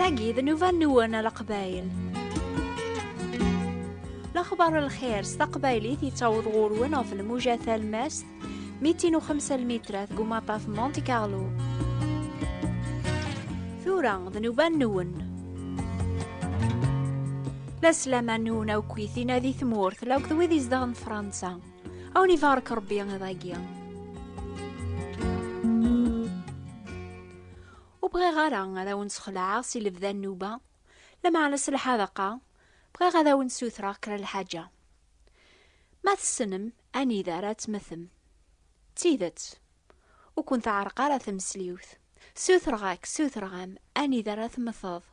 Tagi d nnuba-nwen a Leqbayel. Lexbar n lxir s taqbaylit yettaweḍ ɣur-wen ɣef lmuja talmast 205 lmitrat deg umaṭaf Monte Carlo. Tura d nnuba-nwen. La slama n unawkwit-ina di tmurt, la akked wid izedɣen Fransa. Awen ibarek Rebbi iḍ-agi. Ur bɣiɣ ara ad awen-sxelɛeɣ si lebda nnuba, lameɛna s lḥadaqa, bɣiɣ ad awen-sutreɣ kra lḥaǧa. Ma tessnem anida ara tmetem. D tidet, ur ken-teɛreq ara tmesliwt. Sutreɣ-ak, sutreɣ-am, anida ara temmteḍ.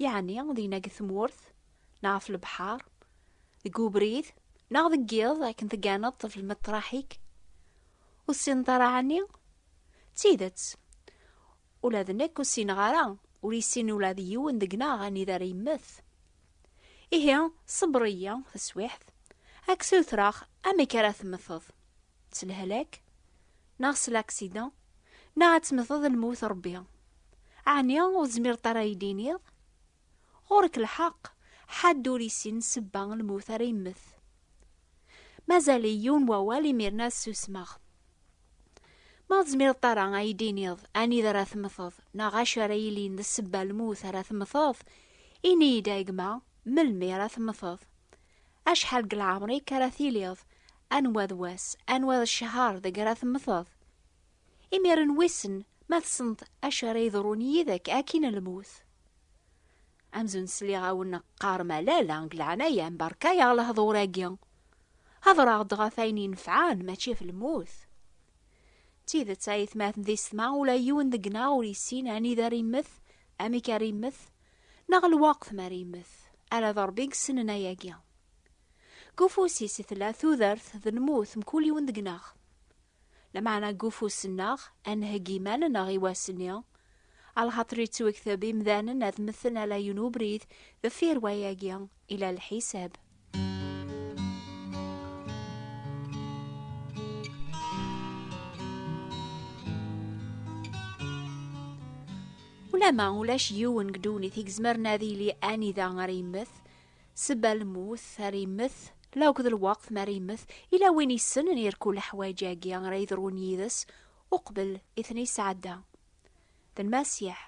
Yeɛni dinna deg tmurt, neɣ ɣef lebḥer, deg ubrid, neɣ deg yiḍ akken tegganeḍ ɣef lmeṭraḥ-ik? Ur tessineḍ ara ɛni? D tidet, ula d nekk ur ssineɣ ara, ur yessin ula d yiwen deg-neɣ anida ara yemmet. Ihi, ṣebber-iyi taswiɛt, ad k-ssutreɣ amek ara temteḍ. s lehlak neɣ s laksidan neɣ ad temmteḍ lmut rebbi ɛni ur tezmireḍ ara ay d-iniḍ ɣur-k lḥeqq ḥadd ur yessin sebba lmut ara yemmet mazal yiwen wawal imir-nni ad susmeɣ ma tezmireḍ ara ay d-iniḍ anida ara temmteḍ neɣ acu ara yilin d sebba lmut ara temmteḍ ini-iyi-d a gma melmi ara temmteḍ Acḥal deg leɛmer-ik ara tiliḍ? Anwa d wass, anwa d ccher deg ara temmteḍ? Imiren wissen ma tessneḍ acu ara yeḍrun yid-k akkin lmut. Amzun sliɣ-awen qqarem alala deg leɛnaya-m berka-yaɣ lehdur-agi. Hedreɣ-d ɣef ayen inefɛen mačči ɣef lmut. D tidet ayetmaten di setma ula yiwen deg-neɣ ur yessin anida ara immet, amek ara immet, Neɣ lweqt mi ara yemmet. Ala d Ṛebbi i yessnen ayagi. Deg ufus-is i tella tudert d lmut, mkul yiwen deg-neɣ. Lameɛna deg ufus-nneɣ, ad nheggi iman-nneɣ i wass-nni, alxaṭer yettwekteb imdanen ad mmten ala yiwen ubrid deffir wayagi, ila lḥisab. Ulama ulac yiwen deg ddunit i yezmeren ad yili anida ara yemmet, sebba lmut ara yemmet, la akked lweqt mi ara yemmet, ila win yessnen irkul leḥwayeǧ-agi ara yedrun yid-s uqbel i ten-yesɛedda. D Lmasiḥ.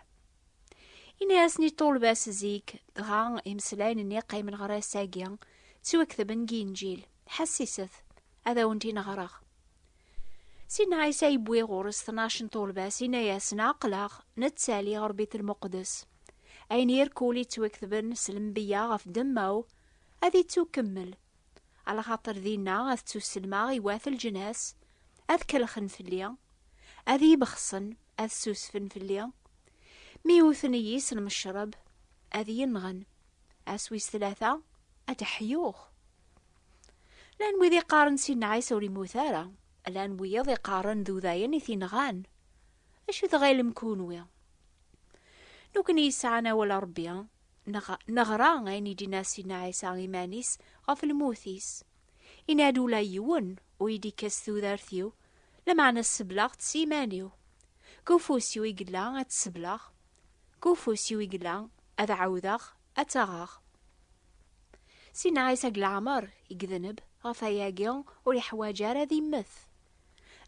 Ini-asen i ṭulbas zik, dɣa imeslayen-nni qqimen ɣer ass-agi, ttwaktben deg Inǧil. Ḥessiset, ad awen-t-in ɣreɣ. Sidna Ɛisa yewwi ɣur-s tnac n ṭulbas, ini-asen, Aql-aɣ nettali ɣer Bit Lmuqdes. Ayen irkul yettwaktben s lembiya ɣef ddemma-w, ad ittukkemmel, Ala xaṭer dinna ad ttuselmaɣ i wat lǧnas, ad kellxen fell-i, ad iyi-bexṣen, ad ssusfen fell-i, mi wten-iyi s lmecreb, ad iyi-nɣen, ass wis tlata ad d-ḥyuɣ. Llan wid iqqaren Sidna Ɛisa ur immut ara, llan wiyiḍ iqqaren d udayen i t-inɣan. Acu tɣilem kunwi? Nukni yesɛan awal Ṛebbi, Neɣ, neɣra ayen i d-inna Sidna Ɛisa iman-is ɣef lmut-is. Inna-d ula yiwen ur yi-d-ikkes tudert-iw, lameɛna sebleɣ-tt s yiman-iw. Deg ufus-iw i yella ad tt-sebleɣ, deg ufus-iw i yella ad ɛawdeɣ ad tt-aɣeɣ. Sidna Ɛisa deg leɛmer i yedneb, ɣef wayagi ur yeḥwaǧ ara ad immet.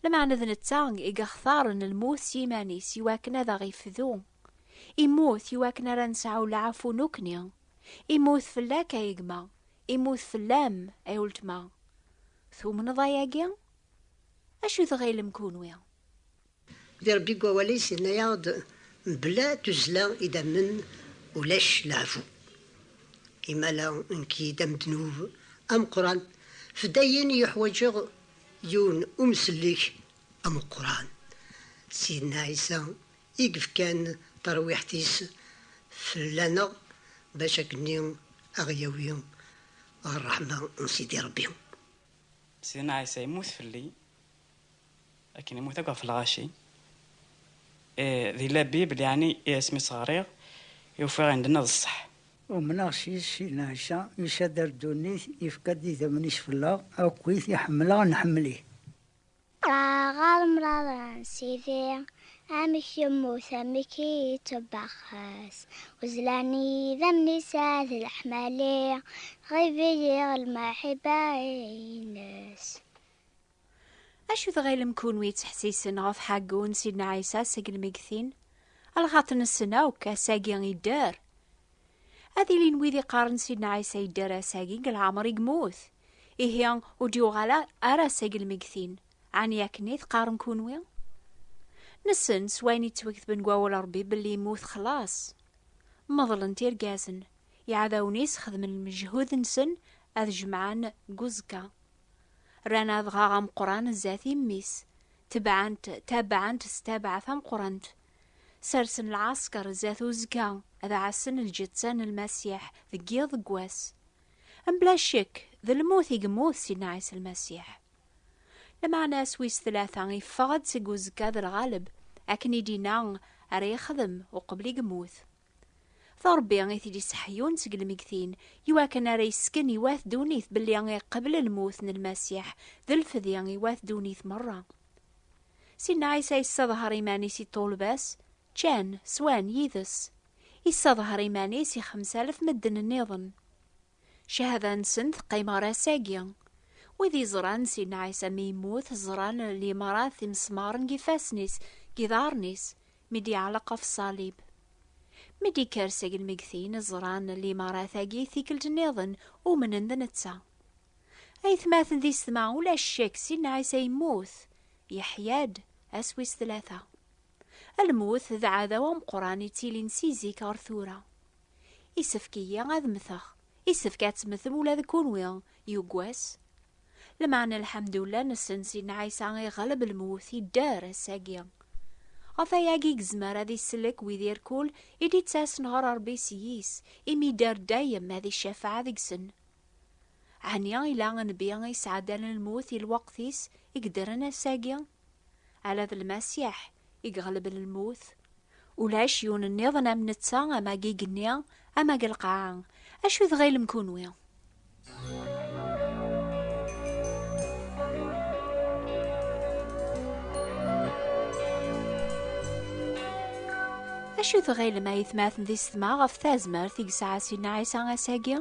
Lameɛna d netta i yextaren lmut s yiman-is iwakken ad aɣ-ifdu. Immut i wakken ara nesɛu lɛafu nukni. Immut fell-ak ay gma, immut fell-am ay uletma. Tumneḍ ayagi? Acu tɣilem kunwi? Di Rebbi deg wawal-is yenna-aɣ-d mebla tuzzla i d-ammen ulac lɛafu. Imala nekk-id am ddnub ameqqran f dayen yuḥwaǧeɣ yiwen umsellek ameqqran. Sidna Ɛisa I yefkan tarwiḥt-is fell-aneɣ bac akkenni a ɣ-yawi ɣer ṛṛeḥma n Sidi Ṛebbi. Sidna Ɛisa yemmut fell-i akken immut akk ɣef lɣaci. I di labib, leɛni i asmi s-ɣriɣ i ufiɣ i ndenna d ṣṣeḥ. Umneɣ s yis-s Sidna Ɛisa, yessadar ddunit, yefka-d idammen-is fell-aɣ, akkit i ḥemmleɣ, nḥemmel-it. Ṭṭraɣ ɣer mraḍ n Sidi, amek yemmut amek i yettebbax ass, uzlan i yidammen-is ad leḥmali, ɣibiyiɣ lmaḥiba-ines. Acu tɣilem kunwi ttḥessisen ɣef ḥaggu n Sidna Ɛisa seg lmeggtin? Lxaṭ nessen akk, ass-agi idder. Ad ilin wid iqqaren Sidna Ɛisa yedder ass-agi deg leɛmer i yemmut. Ihi ur d-yuɣal ara seg lmegtin, ɛni akken i teqqarem kunwi? Nessen s wayen yettweketben deg wawal n Rebbi belli immut xlaṣ. Meḍlent irgazen, iɛdawen-is xedmen lmejhud-nsen ad jemɛen deg uẓekka. Rran adɣaɣ ameqqran zdat i mmi-s, tebɛent tabaɛent s tabaɛa tameqqrant. Sersen lɛasker zdat uzekka, ad ɛassen lǧetta n Lmasiḥ deg yiḍ deg wass. Mebla ccek, d lmut i yemmut Sidna Ɛisa Lmasiḥ. Lmeɛna ass wis tlata yeffeɣ-d seg uzekka d lɣaleb, akken i d-inna ara yexdem uqbel i yemmut. D Ṛebbi i t-id-iseḥyun seg lmeggtin, i wakken ara yesken i wat ddunit belli iqebbel lmut n Lmasiḥ d lfedi i wat ddunit meṛṛa. Sidna Ɛisa yesseḍher iman-is i ṭṭulba-s, ččan, swan, yid-s. yessaḍher iman-is i xemsalef medden nniḍen. Cahada-nsen teqqim ɣer ass-agi. Wid yeẓran Sidna Ɛisa mi yemmut, ẓran limrat imesmaren deg ifassen-is, deg iḍarren-is, mi d-yeɛleq ɣef ṣṣalib. Mi d-yekker seg lmegtin, ẓran limarat-agi tikkelt nniḍen, umnen d netta. Aytmaten di setma, ulac ccek Sidna Ɛisa yemmut, yeḥya-d, ass wis tlata. Lmut d aɛdaw ameqqran yettilin si zik ɣer tura. Isefk-iyi ad mmteɣ, isefk ad temmtem ula d kunwi, yugwes. Lmeɛna lḥemdullah nessen Sidna Ɛisa iɣleb lmut, yedder, ass-agi. Ɣef wayagi yezmer ad isellek wid irkul i d-ittasen ɣer Rebbi s yis, imi yedder dayem ad icafeɛ deg-sen. Ɛni ila Nnbi i yesɛeddalen lmut i lweqt-is, i yeddren ass-agi? Ala d Lmasiḥ i iɣelben lmut. Ulac yiwen nniḍen am netta ama deg igenni ama deg lqaɛa. Acu i tɣilem kunwi? Acu i tɣilem ay tmaten d isetma ɣef tazmert i yesɛa Sidna Ɛisa ass-agi?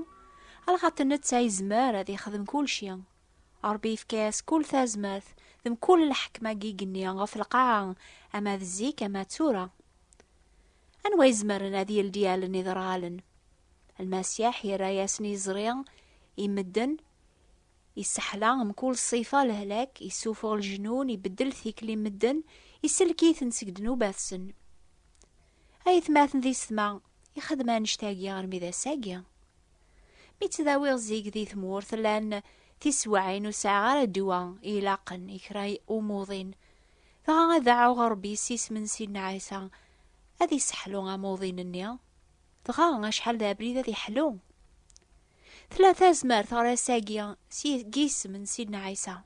Alɣaṭ netta yezmer ad yexdem kulci. Ṛebbi yefka-as kull tazmert d mkul lḥekma deg igenni ɣef lqaɛa, ama d zik ama d tura. Anwa izemren ad yeldi allen iderɣalen? Lmasiḥ yerra-yasen iẓri i medden, isseḥla mkul ṣṣifa lehlak, issufuɣ lejnun, ibeddel tikli n medden, isellek-iten seg ddnubat-sen. Ay atmaten di ssetma, ixdem annect-agi armi d ass-agi. Mi ttdawiɣ zik di tmurt llan tiswaɛin ur sɛiɣ ara ddwa i ilaqen i kra umuḍin, dɣa ad dɛuɣ Ṛebbi s isem n Sidna Ɛisa ad isseḥlu amuḍin-nni, dɣa acḥal d abrid ad iḥlu! Tella tazmert ɣer ass-agi s yisem n Sidna Ɛisa.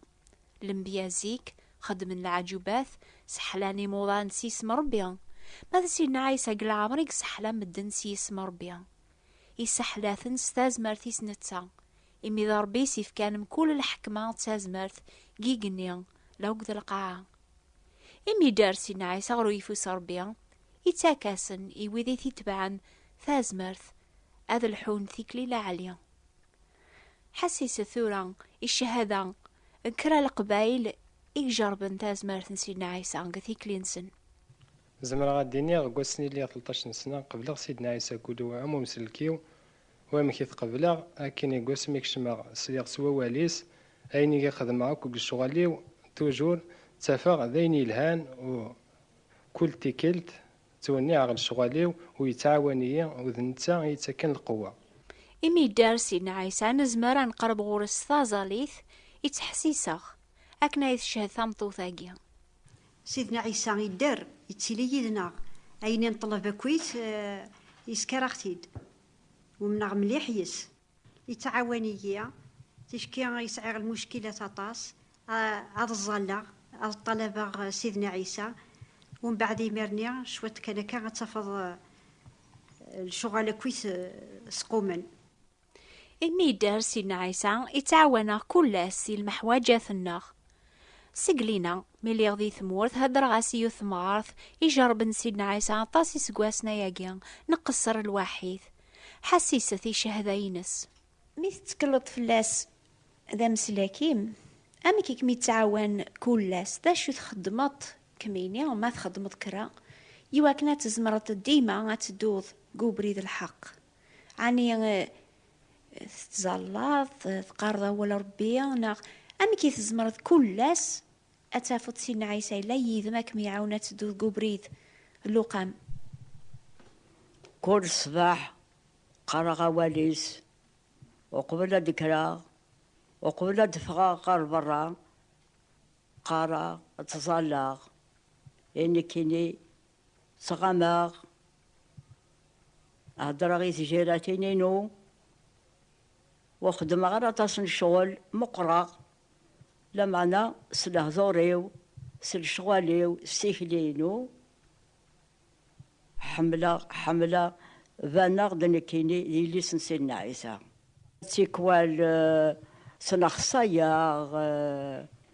Lembya zik xeddmen leɛǧubat, seḥlan imuḍan s yisem n Ṛebbi. Ma d Sidna Ɛisa deg leɛmer i yesseḥla medden s yisem n Ṛebbi. isseḥlaten s tazmert-is netta, imi d Ṛebbi i s-ifkan mkul lḥekma d tazmert deg igenni la akked lqaɛa. Imi idder Sina Ɛisa ɣer uyeffus n Ṛebbi, ittak-asen i wid i t-itebɛen tazmert ad lḥun tikli laɛli. Ḥesset tura i cchada n kra n leqbayel i ijerrben tazmert n Sidna Ɛisa deg tikli-nsen. Zemreɣ ad d-iniɣ deg wass n liɣ telṭac n sna, qebleɣ Sidna Ɛisa Gulu am umsellek-iw, wamek i t-qebleɣ, akken i deg wasmi i kecmeɣ sliɣ s wawal-is, ayen i k-xedmeɣ akk deg lecɣal-iw tujur ttafeɣ d ayen yelhan u kul tikkelt ttwenniɛeɣ lecɣal-iw u yettɛawan-iyi u d netta i yettaken lqewwa. Imi yedder Sidna Ɛisa nezmer ad neqreb ɣur-s s taẓallit i ttḥessiseɣ, akken ay tchehhed tameṭṭut-agi. Sidna Ɛisa idder, ittili yid-neɣ. Ayen i nṭelleb akk-it, yesker-aɣ-t-id. Umneɣ mliḥ yes-s. Yettɛawan-iyi, ticki i sɛiɣ lmuckilat aṭas, ad ẓẓalleɣ, ad ṭṭalabeɣ Sidna Ɛisa, umbeɛd imirni cwiṭ kan akka ad tafeḍ lecɣal akk-it squmen. Imi yedder Sidna Ɛisa, ittɛawan-aɣ kul ass i lmeḥwaǧat-nneɣ. Seg lina, mi lliɣ di tmurt, heddreɣ-as i yiwet temɣart ijerrben Sidna Ɛisa aṭas iseggasen ayagi, nqesser lwaḥid. Ḥassiset i ccehda-ines. Mi tettekleḍ fell-as d ameslak-im, amek i kem-ittɛawan kul ass? D acu txeddmeḍ kemmini, ma txeddmeḍ kra, iwakken ad tzemreḍ dima ad tedduḍ deg ubrid n lḥeqq? Ɛni tettẓallaḍ, teqqareḍ awal Ṛebbi, neɣ amek i tzemreḍ kul ass ad tafeḍ Sidna Ɛisa yella yid-m ad kem-iɛawen ad tedduḍ deg ubrid n Luqam? Kul ṣṣbeḥ qqareɣ awal-is uqbel ad d-kkreɣ, uqbel ad d-ffɣeɣ ɣer beṛṛa, qqareɣ, ttẓallaɣ, i nekkini Ttɣamaɣ, heddreɣ i tǧiratin-inu, ur xeddmeɣ ara aṭas n ccɣel, meqqreɣ, lameɛna s lehdur-iw, s lecɣal-iw, s tikli-inu, ḥemmleɣ, ḥemmleɣ, baneɣ-d nekkini d yelli-s n Sidna Ɛisa. Tikwal ttnexsayeɣ.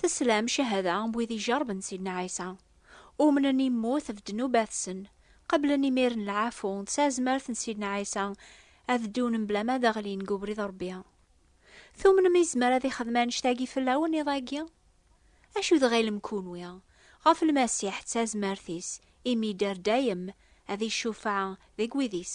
Teslam cahada n wid ijerben Sidna Ɛisa, umnen immut ɣef ddnubat-sen, qeblen imir n lɛafu d tazmert n Sidna Ɛisa ad ddun mebla ma ad ɣlin deg ubrid n Rebbi. Tumnem izmer ad ixdem annect-agi fell-awen iḍ-agi? Acu tɣilem kunwi ɣef Lmasiḥ d tazmert-is imi yedder dayem ad icufeɛ deg wid-is?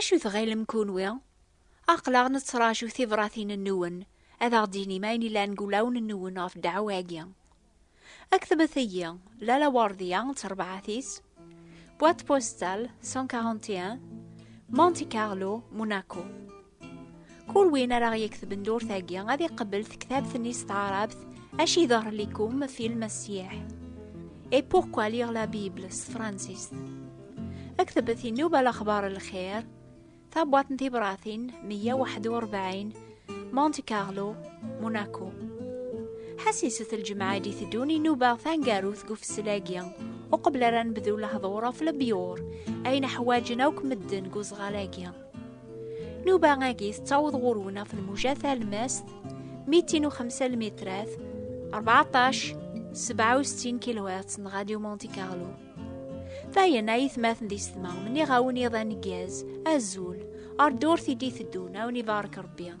Acu tɣilem kunwi? Aql-aɣ nettraǧu tibratin-nwen, ad aɣ-d-tinim ayen yellan deg wulawen-nwen ɣef ddeɛwa-agi. Ktbet-iyi, Lalla Werdiya d terbaɛt-is, Boîte postale 141, Monte Carlo, Monaco. Kul win ara ɣ-yektben durt-agi ad iqebbel tektabt-nni s taɛrabt Aci d'Arlikum film Sieh Et pourquoi lire la Bible s tefransist Aktbet inub al axbar lxir Tabwaṭ n tibratin 141 Monte Carlo, Monaco Ḥasiset lǧemɛa i d-iteddun inuba tangarut deg ufessil-agi uqbel ara nebdu lehdur ɣef lebyur ayen ḥwaǧen akk medden deg uzɣal-agi. نوبة-agi tettaweḍ ɣur-wen ɣef lmuja talmast 205 lmitrat 14 67 kilowatts n Radio Monte Carlo. Dayen ay itmaten di setma, mniɣ-awen iḍ aneggaz, azul, ar ddurt i d-iteddun, awen ibarek Rebbi.